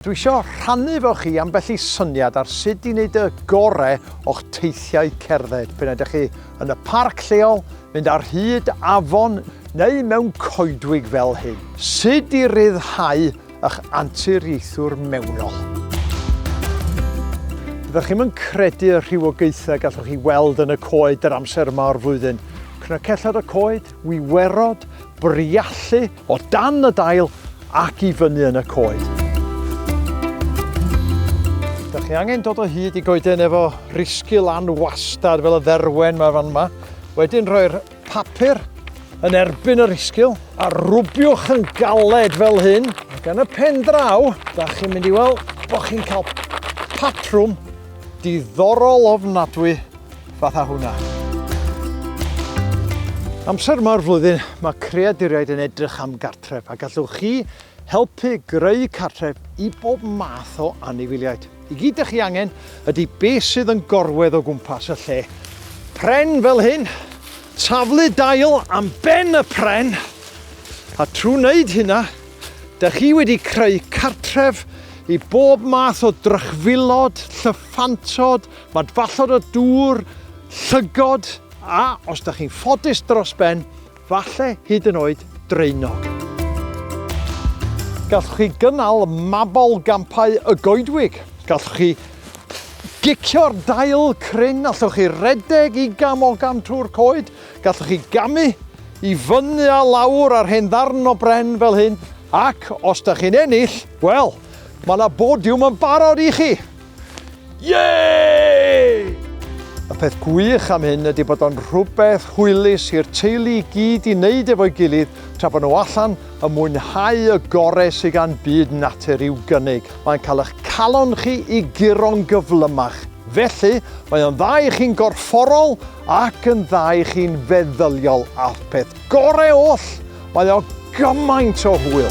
Dwi isio rhannu efo chi ambell i syniad ar sut i wneud y gore o'ch teithiau cerdded, p'un ydych chi yn y parc lleol, mynd ar hyd afon neu mewn coedwig fel hyn. Sut i ryddhau ych anturiaethwr mewnol. Ydych chi'm yn credu y rhywogaethau gallwch chi weld yn y coed yr amser yma o'r flwyddyn. Cnocellod y coed, wiwerod, briallu, O dan y dail ac i fyny yn y coed. Da chi angen dod o hyd i goeden efo risgu lan wastad fel y dderwen mae fan yma. Wedyn rhoi'r papur yn erbyn yr isgil a rwbiwch yn galed fel hyn. Ac yn y pen draw, da chi'n mynd i weld bod chi'n cael patrwm diddorol ofnadwy fatha hwnna. Amser yma o'r flwyddyn, mae creaduriaid yn edrych am gartref a gallwch chi helpu greu cartref i bob math o anifiliaid. I gyd ydych chi angen ydy beth sydd yn gorwedd o gwmpas y lle. Pren fel hyn, taflu dail am ben y pren, a trwy wneud hynna, Da chi wedi creu cartref i bob math o drychfilod, llyffantod, Mae dfallod o dŵr, llygod a, os da chi'n ffodus dros ben, falle hyd yn oed draenog. Gallwch chi gynnal mabol gampau y goedwig. Gallwch chi gicio'r dail cryn, allwch chi redeg i gam o gam trwy'r coed, gallwch chi gamu i fyny a lawr ar hen ddarn o bren fel hyn, ac os da chi'n ennill, wel, mae yna bodiwm yn barod i chi. Yay! Y peth gwych am hyn ydy bod o'n rhywbeth hwylus i'r teulu i gyd i wneud efo'i gilydd tra bod nhw allan yn mwynhau y gore sydd gan byd natur i'w gynnig. Mae'n cael eich calon chi i guro'n gyflymach, felly mae o'n dda i chi'n gorfforol ac yn dda i chi'n feddyliol a'r peth gore oll Mae o gymaint o hwyl!